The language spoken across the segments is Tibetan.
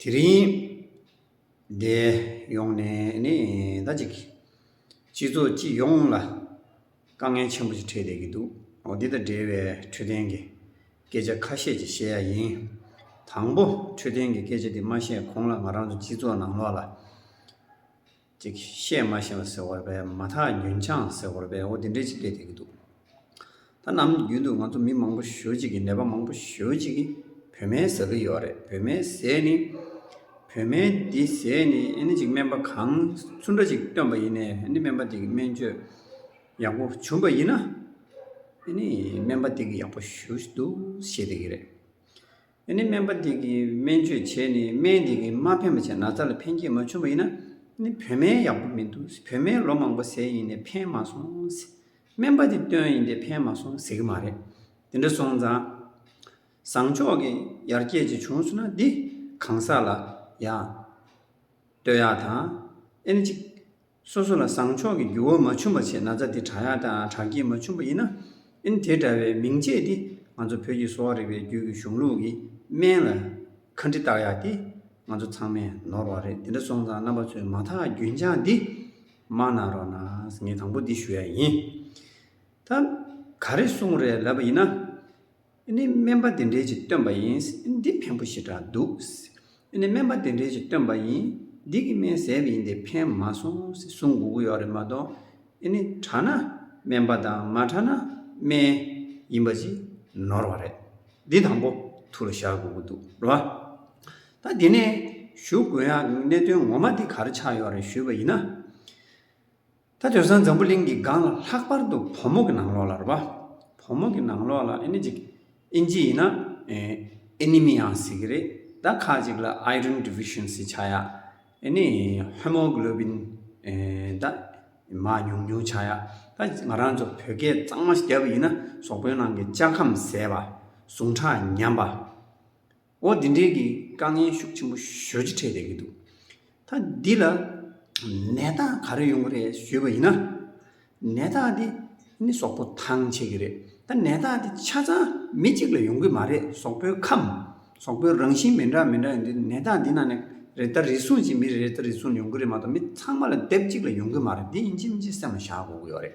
དེ་རིང་འདི་ཡོང་ནས་ནི་ད་ཅིག་སྤྱི་ཚོགས་སྤྱི་ཡོངས་ལ་དཀའ་ངལ་ཆེན་པོ་ཞིག་འཕྲད་བསྡད་ཀྱི་འདུག་འོ་འདི་དང་འབྲེལ་བའི་འཕྲོད་བསྟེན་གྱི་སྐད་ཆ་ཁ་ཤས་ཅིག་བཤད་ཡ་ཡིན། དང་པོ་འཕྲོད་བསྟེན་གྱི་སྐད་ཆ་འདི་མ་བཤད་གོང་ལ་ང་རང་ཚོ་སྤྱི་ཚོགས་ནང་ལོགས་ལ། ཅིག་བཤད་མ་ཤེས་པ་ཟེར་བ་རེད་པས་མ་ཐག་ཉོན་ཆང་ཟེར་བ་རེད་པས་འོ་དེ་འདྲས་ཅིག་བསྡད་བསྡད་ཀྱི་འདུག་ད་ནམ་རྒྱུན་དུ་ང་ཚོ་མི་མང་པོ་ཞོལ་གཅིག་གིས་ནད་པ་མང་པོ་ཞོལ་གཅིག་གིས་བོད་སྨན་ཟ་གི་ཡོད་རེད་བོད་སྨན་ཟས་ནི་བོད་སྨན་འདི་ཟས་ནི་ཨནི་ཅིག་སྨན་པ་གང་སུ་འདྲ་ཅིག་བཏོན་པ་ཡིན་ནས་ཨནི་སྨན་པ་འདི་གི་སྨན་བཅོས་ཡག་པོ་བྱུང་པ་ཡིན་ན་ཨནི་སྨན་པ་འདི་གི་ཡག་པོ་ཞུ་འདུག་ཞེས་བསྡད་ཀྱི་རེད། ཡང་ནི་སྨན་པ་དེ་གིས་སྨན་བཅོས་བྱས་ནས་སྨན་དེ་གིས་མ་ཕན་པ་བྱས་ན་ན་ཚ་ལ་ཕན་སྐྱེད་མ་བྱུང་བ་ཡིན་ན་ནི་བོད་སྨན་ཡག་པོ་མི་འདུག་བོད་སྨན་ལོ་མང་པོ་ཟས་ཡིན་ནས་ཕན་མ་སོང། སྨན་པ་དེ་སྟོན་ཡིན་ཏེ་ཕན་མ་སོང་ཟེར་གྱི་མ་རེད། དེ་འདྲ་སོང་ཙང། བཟང་ཕྱོགས་ཀྱི་ཡར་རྒྱས་ཅིག་བྱུང་སོང་ན་འདི་གང་ཟག་ལ་ཡང། བསྟོད་ཡག་དང། ཨེ་ནི་ཅིག། སོ་སོ་ལ་བཟང་ཕྱོགས་ཀྱི་འགྱུར་བ་མ་བྱུང་བ་ཆེས་ན་ཚ་དེ་བྲག་ཡག་དང་བྲག་སྐྱིད་མ་བྱུང་བ་ཡིན་ན་ཨིན་དེ་འདྲ་བའི་མིང་སྤྱད་དེ་ང་ཚོ་བོད་ཀྱི་གསོ་བ་རིག་པའི་རྒྱུད་ཀྱི་གཞུང་ལུགས་ཀྱི་སྨན་ལ་ཁ་འདྲི་བཏགས་ཡག་དེ་ང་ཚོ་ཚང་མས་ནོར་བ་རེད་དེ་འདྲ་སོང་ཙང་རྣམ་པ་ཚོས་མ་དག་རྒྱུན་ཆགས་འདི་མ་གནང་རོགས་གནང་ངས་དང་པོ་འདི་ཞུ་ཡག་ཡིན་ད་ག་རེ་གསུང་རེད་ལབ་པ་ཡིན་ན། ནི་སྨན་པ་དེ་འདྲས་ཀྱིས་བཏོན་པ་ཡིན། འདི་ཕན་པོ་ཞེ་དྲག་འདུག། ནི་སྨན་པ་དེ་འདྲས་ཀྱིས་བཏོན་པ་ཡིན། འདི་གི་སྨན་ཟས་ཡིན་ཏེ་ཕན་མ་སོང། ཟུང་དགུ་དགུ་ཡོད་རེད་མ་གཏོགས། ནི་དྲག་ན་སྨན་པ་དང་མ་དྲག་ན་སྨན། ཡིན་པ་ཅིག་ནོར་བ་རེད། འདི་དང་པོ་ཐུགས་ལ་ཤར་དགོས་ཀྱི་འདུག་རེད་བ། ད་འདི་ནས་ཞུ་དགོས་ཡ་གནད་དོན་ངོ་མ་འདི་གར་ཆགས་ཡོད་རེད་ཞུས་པ་ཡིན་ན། ད་དོན་སང་འཛམ་བུ་གླིང་གི་སྒང་ལ་ལྷག་པར་དུ་བོད་མོ་གི་ནང་ལོགས་ལ་རེད་པ། བོད་མོ་གི་ནང་ལོགས་ལ་ཨེ་ནི་ཅིག་ཨིན་ཇི་ཡིན་ན་ཨེ་ནི་མི་ཡང་ཟེར་གི་རེད་ད་ཁ་ཅིག་ལ Iron Deficiency བྱ་ཡག་ཨེ་ནི Hemoglobin ད་མ་ཉུང་ཉུང་བྱ་ཡག་ད་ང་རང་ཚོ་བོད་སྐད་གཙང་མ་བརྒྱབ་ཡིན་ན་ཟོག་པོའི་ནང་གི་ལྕགས་ཁམས་ཟད་པ་ཟུངས་ཁྲག་ཉམས་པ། འོ་འདི་འདྲའི་གི་དཀའ་ངལ་ཤུགས་ཆེན་པོ་ཞོལ་གྱི་འཕྲད་བསྡད་ཀྱི་འདུག་ད་འདི་ལ་ནད་རྟགས་ག་རེ་ཡོང་གི་རེད་ཞུས་པ་ཡིན་ན། ནད་རྟགས་འདི་ནི་ཟོག་པོ་ཐང་ཆད་ཀྱི་རེད་ད་ནད་རྟགས་འདི་ཆ་ཚང་མི་གཅིག་ལ་ཡོང་གི་མ་རེད་ཟོག་པོའི་ཁམས་ཟོག་པོའི་རང་བཞིན་མི་འདྲ་མི་འདྲ་ཡོང་དུས་ནད་རྟགས་འདི་ནང་ནས་རེ་ད་རེ་ཟུང་ཅིག་མི་རེ་ད་རེ་ཟུང་ཡོང་གི་རེད་མ་གཏོགས་མི་ཚང་མ་ལ་དེབ་གཅིག་ལ་ཡོང་གི་མ་རེད་འདི་ཡིན་གཅིག་མིན་གཅིག་སེམས་ལ་བཞག་དགོས་ཀྱི་ཡོད་རེད།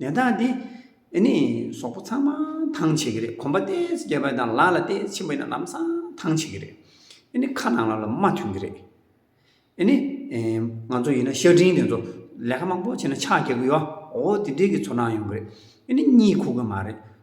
ནད་རྟགས་འདི་ནི་ཟོག་པོ་ཚང་མ་ཐང་བྱེད་ཀྱི་རེད་གོམ་པ་ལྟས་སུ་རྒྱབ་པ་དང་ལག་ལ་ལྟས་སུ་འཆིང་བ་ཡིན་ན་ལམ་སང་ཐང་བྱེད་ཀྱི་རེད་ནི་ཁ་ནང་ལ་ལ་མ་ཐོན་གྱི་རེད་ནི་ང་ཚོ་ཡིན་ན་ཤ་འབྲིང་དེ་ཚོ་ལས་ཀ་མང་པོ་བྱས་ན་ཕྱག་རྒྱག་གི་ཡོད་འོ་དེ་འདྲས་ཀྱི་ཚོར་སྣང་ཡོང་གི་རེད་ནི་གཉིད་ཁུག་གི་མ་རེད་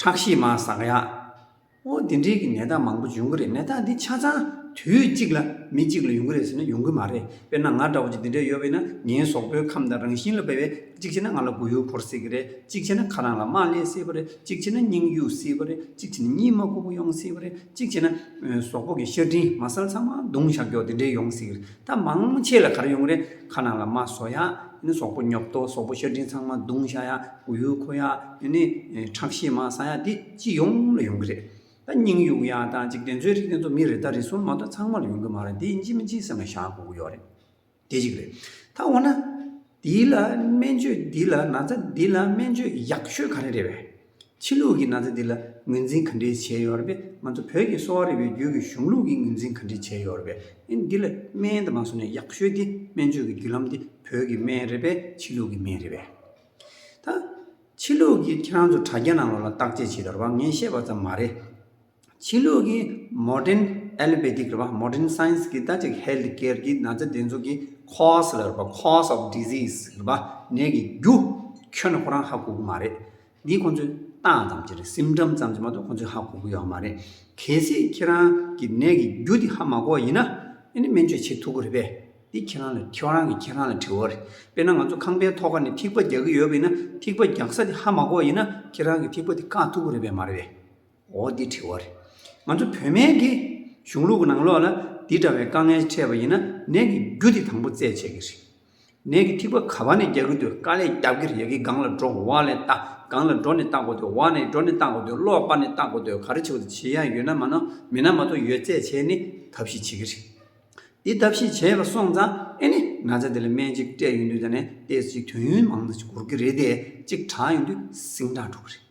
ཁྲག་ཤེད་མ་ཟག་ཡག། ཨོ་དེ་འདྲའི་གི་ནད་རྟགས་མང་པོ་འབྱུང་གི་རེད་ནད་རྟགས་འདི་ཆ་ཚང་དུས་གཅིག་ལ་མི་གཅིག་ལ་ཡོང་གི་རེད་ཟེར་ན་ཡོང་གི་མ་རེད་དཔེར་ན་ང་འདྲ་བོ་ཅིག་འདི་འདྲས་ཡོད་པས་ན་ངའི་ཟོག་པོའི་ཁམས་དང་རང་བཞིན་ལ་དཔེ་བས་གཅིག་བྱས་ན་ང་ལ་མགོ་ཡུ་འཁོར་སྲིད་གི་རེད་གཅིག་བྱས་ན་ཁ་རང་ལ་དམར་ལེགས་སྲིད་པ་རེད་གཅིག་བྱས་ན་སྙིང་གཡུག་སྲིད་པ་རེད་གཅིག་བྱས་ན་གཉིད་མ་སྒུག་པོ་ཡོང་སྲིད་པ་རེད་གཅིག་བྱས་ན་ཟོག་པོ་གི་ཤ་གྲིན་མ་སལ་ཚང་མ་བརྡུང་བཞག་རྒྱོ་དེ་འདྲས་ཡོང་སྲིད་གི་རེད་ད་མང་ཆེ་ལ་གར་ཡོང་གི་རེད་ཁ་ནང་ལ་མ་ཟོ་ཡ་ནི་ཟོག་པོ་ཉོབ་ཏོ་ཟོག་པོ་ཤ་སྦྲིན་ཚང་མ་རྡུང་བཞག་ཡ་གུ་ཡུ་ཁོ་ཡ་ནི་ཁྲག་ཤེད་མ་ཟ་ཡ་འདི་སྤྱི་ཡོངས་ལ་ཡོང་གི་རེད་ད་སྙིང་གཡུག་ཡ་ད་འཇིག་རྟེན་ཚོའི་རིགས་དེ་ཚོ་མི་རེ་ད་རེ་གསུམ་མ་གཏོགས་ཚང་མ་ལ་ཡོང་གི་མ་རེད་འདི་སྤྱི་མི་སྤྱི་ཟེར་ན་བཞག་དགོ་གི་ཡོད་རེད་དེ་གཅིག་རེད་ད་འོ་ན། འདི་ལ་སྨན་བཅོས་འདི་ལ་ན་ཚ་འདི་ལ་སྨན་བཅོས་ཡག་ཤོས་ག་རེ་རེད་བས། ཕྱི་ལུགས་ཀྱི་ན་ཚ་འདི་ལ་ངོས་འཛིན་ག་འདྲའི་བྱས་ཡོད་རེད་བས་ང་ཚོ་བོད་ཀྱི་གསོ་བ་རིག་པའི་རྒྱུད་ཀྱི་གཞུང་ལུགས་ཀྱི་ངོས་འཛིན་ག་འདྲའི་བྱས་ཡོད་རེད་བས། འདི་ལ་སྨན་དུ་མ་བཟོ་ནས་ཡག་ཤོས་དེ་སྨན་བཅོས་ཀྱི་རྒྱུད་ལམ་དེ་བོད་ཀྱི་སྨན་རེད་བས་ཕྱི་ལུགས་ཀྱི་སྨན་རེད་བས། ད་ཕྱི་ལུགས་ཀྱི་ཁྱེད་རང་ཚོ་དྲ་རྒྱ་ནང་ལོགས་ལ་བརྟག་དཔྱད་བྱས་དོར་བ་ངས་བཤད་པ་ཙམ་མ་རེད། ཕྱི་ལུགས་ཀྱི Modern Allopathic རེད་པ Modern Science གྱི་ལྟ་ཅི Health Care གྱི་ན་ཚ་འདེབས་འཛུགས་ཀྱི Cause ལ་རེད་པ Cause of Disease རེད་པ་ནད་ཀྱི་རྒྱུ། ཁྱོད་ཁོ་རང་ཧ་གོ་གི་མ་རེད། འདི་ཁོང་ཚོས་བཏགས་ཙམ་གྱི་རེད Symptom ཙམ་གྱི་མ་གཏོགས་ཁོང་ཚོས་ཧ་གོ་གི་ཡོད་མ་རེད། གལ་སྲིད་ཁྱེད་རང་གི་ནད་ཀྱི་རྒྱུ་དེ་ཧ་མ་གོ་བ་ཡིན་ན། ཨེ་ནི་སྨན་བཅོས་བྱེད་ཐུབ་གི་རེད་པས། འདི་ཁྱེད་རང་ལ་ཁྱེད་རང་གི་ཁྱེད་རང་ལ་དྲི་བ་རེད། དཔེར་ན་ང་ཚོ་ཁང་པའི་ཐོག་ཁ་ནས་ཐིགས་པ་རྒྱག་གི་ཡོད་པ་ཡིན་ན་ཐིགས་པ་རྒྱག་ས་དེ་ཧ་མ་གོ་བ་ཡིན་ན་ཁྱེད་རང་གི་ཐིགས་པ་དེ་བཀག་ཐུབ་གི་རེད་པས་མ་རེད། འོ་འདི་དྲི་བ་རེད། ང་ཚོ་བོད་སྨན་གྱི་གཞུང་ལུགས་ཀྱི་ནང་ལོགས་ལ་འདི་འདྲ་བའི་དཀའ་ངལ་འཕྲད་པ་ཡིན་ན་ནད་ཀྱི་རྒྱུ་དེ་དང་པོ་བཙལ་བྱེད་ཀྱི་རེད། ནད་ཀྱི་ཐིགས་པ་ག་བ་ནས་རྒྱག་གི་འདུག་དཀའ་ལས་རྒྱབ་ཀྱི་རེད་ཡ་གི་སྒང་ལ་འགྲོ་བ་ལས་བལྟ་སྒང་ལ་འགྲོ་ནས་བལྟ་དགོས་འདུག་བ་ནས་འགྲོ་ནས་བལྟ་དགོས་འདུག་ཀློག་པ་ནས་བལྟ་དགོས་འདུག་ག་རེ་བྱེད་དགོས་འདུག་བྱེད་ཡ་ཡོད་ན་མ་ནོར་མེད་ན་མ་གཏོགས་ཡོད་བཙལ་བྱས་ནས་ཐབས་ཤེས་བྱེད་ཀྱི་རེད། འདི་ཐབས་ཤེས་བྱས་པ་སོང་ཙང་ཨེ་ནི་ན་ཚ་འདི་ལ་སྨན་གཅིག་སྤྲད་ཡོད་འདུག་ད་ནས་ལྟས་ཚོ་ཅིག་དུས་ཡུན་མང་དུ་འགོར་གྱི་རེད་དེ་གཅིག་དྲགས་ཡོད་འདུག་སིང་དྲགས་འགྲོ་གི་རེད།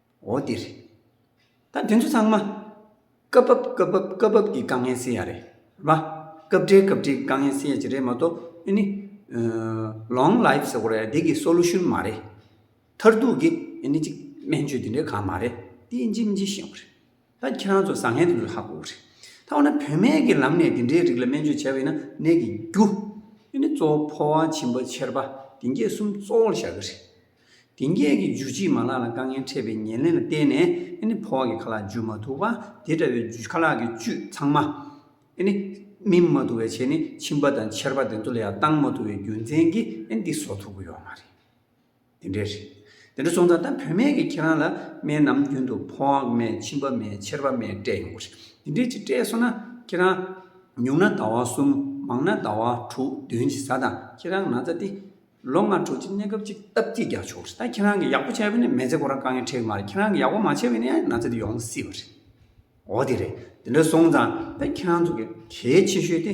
འོ་དེ་རེད། ད་དེ་ཚོ་ཚང་མ། སྐབས་བབ་སྐབས་བབ་སྐབས་བབ་ཀྱི་དཀའ་ངལ་སེལ་ཡ་རེད། རེད་པ། སྐབས་འབྲེལ་སྐབས་འབྲེལ་གྱི་དཀའ་ངལ་སེལ་ཡ་ཅིག་རེད་མ་གཏོགས་འདི་ནི། Long Life ཟེར་བ་རེད་འདི་གི Solution མ་རེད། མཐར་ཐུག་གི་འདི་ནི་ཅིག་སྨན་བཅོས་འདི་འདྲའི་གང་མ་རེད། འདི་ལྗིད་མི་ལྗིད་ཤེས་ཡོང་གི་རེད། ད་ཁྱེད་རང་ཚོ་བཟང་ངན་དེ་ཚོ་ཧ་གོ་རེད། ད་འོ་ན་བུད་མེད་ཀྱི་ལམ་ནས་དེ་འདྲའི་རིགས་ལ་སྨན་བཅོས་བྱས་པ་ཡིན་ན་ནད་ཀྱི་རྒྱུ། ཡུན་ནི་གཙོ་བོ་ཕོ་བ་བྱིན་པ་ཆེར་པ་དེ་འགས་གསུམ་གཙོ་བོར་བཞག་གི་རེད། དེ་འགས་ཀྱི་རྒྱུ་གཅིག་མ་ལག་ལ་དཀའ་ངལ་འཕྲད་པའི་ཉེར་ལེན་ལ་བརྟེན་ནས་ཨེ་ནི་ཕོ་བ་ཀྱི་ཁ་ལག་འཇུ་མ་ཐུབ་པ་དེ་འདྲ་བའི་རྒྱུ་ཁ་ལག་གི་བཅུད་ཚང་མ་ཨེ་ནི་སྨིན་མ་ཐུབ་པའི་ཆེད་ནི་བྱིན་པ་དང་ཆེར་པ་དེ་ཚོ་ལ་ཡང་བཏང་མ་ཐུབ་པའི་རྒྱུ་མཚན་གྱིས་ཨེ་ནི་འདི་བཟོ་ཐུབ་ཀྱི་ཡོད་མ་རེད། དེ་འདྲའི་རེད། དེ་འདྲ་སོང་ཙང་ད་བུད་མེད་ཀྱིས་ཁྱེད་རང་ལ་སྨན་ནམ་རྒྱུན་དུ་ཕོངས་མེད་མཆིན་པ་མེད་མཆེར་བ་མེད་སྤྲད་ཡོང་གི་རེད། དེ་འདྲའི་ཅིག་སྤྲད་སོང་ན་ཁྱེད་རང། ཉུང་ན་ཟླ་བ་གསུམ་མང་ན་ཟླ་བ་དྲུག་བདུན་གྱི་ས་དང་ཁྱེད་རང་ན་ཚ་སྟེ། ལོ་ལྔ་དྲུག་ཅིག་གནས་སྐབས་ཅིག་སྟབས་བསྐྱིས་རྒྱག་ཆོག་གི་རེད་ད་ཁྱེད་རང་གིས་ཡག་པོ་བྱས་པ་ནས་མེ་བཙའ་ཁོ་རང་དཀའ་ངལ་འཕྲད་ཀྱི་མ་རེད་ཁྱེད་རང་གིས་ཡག་པོ་མ་བྱས་པ་ནས་ཡང་ན་ཚ་དེ་ཡོང་སྲིད་པ་རེད། འོ་དེ་རེད། དེ་འདྲ་སོང་ཙང་ད་ཁྱེད་རང་ཚོ་གས་གལ་ཆེ་ཤོས་དེ།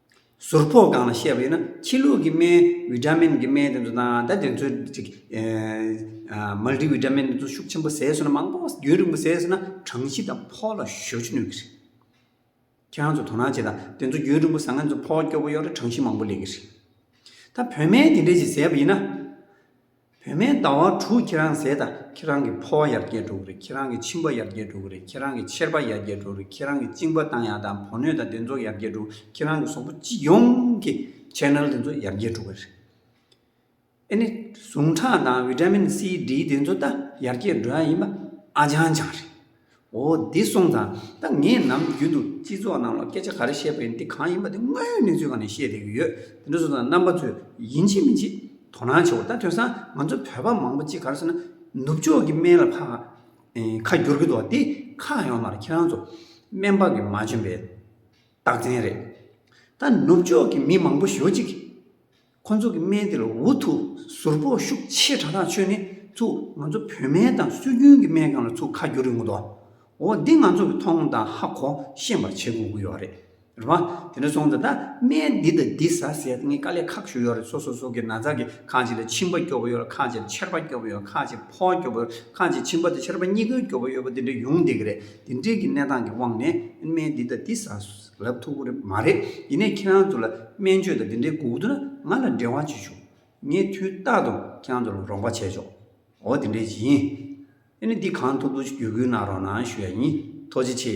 ཟུར་ཕོག་སྒང་ལ་བཤད་པ་ཡིན་ན་ཕྱི་ལུགས་ཀྱི་སྨན་བི་ཏྲ་མིན་གྱི་སྨན་དེ་ཚོ་དང་ད་དེ་ཚོའི Multi Vitamin དེ་ཚོ་ཤུགས་ཆེན་པོ་ཟས་ཟོས་ན་མང་པོ་རྒྱུན་རིང་པོ་ཟས་ཟོས་ན་གྲང་གཞི་དང་ཕོག་ལ་ཞོ་གཅོད་ནུས་ཀྱི་རེད། ཁྱེད་རང་ཚོ་དོ་སྣང་བྱེད་དང་དེ་ཚོ་རྒྱུན་རིང་པོ་ཟ་ན་ཚོ་ཕོག་སྐྱོ་པོ་གཡོག་རེ་གྲང་གཞི་མང་པོ་ལེགས་ཀྱི་རེད། ད་བོད་སྨན་དེ་འདྲས་ཞིག་ཟས་པ་ཡིན་ན། བུད་མེད་ཟླ་བ་དྲུག་ཁྱེད་རང་ཟས་དང་ཁྱེད་རང་གི་ཕོ་བ་ཡར་རྒྱས་འགྲོ་གི་རེད་ཁྱེད་རང་གི་མཆིན་པ་ཡར་རྒྱས་འགྲོ་གི་རེད་ཁྱེད་རང་གི་མཆེར་པ་ཡར་རྒྱས་འགྲོ་རེད་ཁྱེད་རང་གི་གཅིན་པ་བཏང་ཡག་དང་བོ་སྣོད་དང་དེ་ཚོ་ཡར་རྒྱས་འགྲོ་ཁྱེད་རང་གི་སོག་པོ་སྤྱི་ཡོངས་ཀྱི Channel དེ་ཚོ་ཡར་རྒྱས་འགྲོ་གི་རེད། ཨེ་ནི་ཟུངས་ཁྲག་དང Vitamin C D དེ་ཚོ་ད་ཡར་རྒྱས་འགྲོ་ཡག་ཡིན་པ་ཨ་ཅང་ཅང་རེད། འོ་འདི་གསུངས་ཙང་ད་ངས་ནམ་རྒྱུན་དུ་སྤྱི་ཚོགས་ནང་ལ་སྐད་ཆ་ག་རེ་བཤད་པའི་འདི་གང་ཡིན་པ་དེ་དངོས་ཡོད་གནས་ཚུལ་གང་ནས་བཤད་བསྡད་ཀྱི་ཡོད་དེ་འདྲ་གསུངས་ཙང་རྣམ་པ་ཚོས་ཡིན་གཅིག་མིན་གཅིག་དོ་སྣང་བྱེད་འོ་ད་དོན་སང་ང་ཚོ་བོད་པ་མང་པོ་གཅིག་ག་རེ་བྱས་ན་ནུབ་ཕྱོགས་ཀྱི་སྨན་ལ་ཕ་ཁ་བསྒྱུར་གྱི་འདུག་འདི་ཁ་ཡོང་ནང་ལ་ཁྱེད་རང་ཚོ་སྨན་པ་གི་མ་འཇོན་པའི་རྟགས་མཚན་རེད་ད་ནུབ་ཕྱོགས་ཀྱི་མི་མང་པོ་ཞོ་གཅིག་ཁོ་ཚོ་གི་སྨན་དེ་ལ་འུ་ཐུག་ཟུར་ཕོག་ཤུགས་ཆེ་དྲག་དྲག་ཆོད་ནི་ཐུག་ང་ཚོ་བོད་སྨན་དང་སྲོལ་རྒྱུན་གྱི་སྨན་གང་ལ་ཐུག་ཁ་རྒྱུ་རིགས་ངོ་ཏོ་འོ་འདི་ང་ཚོ་གི་མཐོང་ངོ་དང་ཧ་གོ་ཤེས་པར་བྱེད་དགོས་ཀྱི་ཡོད་རེད་རེད་བ་དེ་འདྲ་སོང་ད་ད་སྨན་འདི་དང་འདི་ཟ་ཟེར་ངས་དཀའ་ལས་ཁག་ཞུ་ཡོད་རེད་སོ་སོ་སོ་གི་ན་ཚ་གི་ཁག་ཅིག་ལ་མཆིན་པ་སྐྱོ་བོ་ཡོད་ཁག་ཅིག་ལ་ཆེར་པ་སྐྱོ་བོ་ཡོད་ཁག་ཅིག་ཕོག་སྐྱོ་བོ་ཡོད་ཁག་ཅིག་མཆིན་པ་དང་ཆེར་པ་གཉིས་ཀའི་སྐྱོ་བོ་ཡོད་པ་འདི་འདྲ་ཡོང་སྡད་ཀྱི་རེད་དེ་འདྲའི་གི་གནས་སྟངས་ཀྱི་དབང་ནས་སྨན་འདི་དང་འདི་ཟ་རབ་ཐུག་པོ་རེད་མ་རེད་ཡིན་ནས་ཁྱེད་རང་ཚོ་ལ་སྨན་བཅོས་དང་འདི་འདྲའི་སྒུག་འདུག་ན་ང་ལ་འབྲེལ་བ་བྱེད་ཆོག་ངས་དུས་རྟག་ཏུ་ཁྱེད་རང་ཚོ་ལ་རོགས་པ་བྱས་ཆོག་འོ་དེ་འདྲའི་ཡིན་ཨེ་ནི་འདི་གང་ཐུབ་ཐུབ་ཀྱིས་བརྒྱུད་སྐུལ་གནང་རོགས་གནང་ཞུ་ཡ་ཡིན་ཐུགས་རྗེ་ཆེ།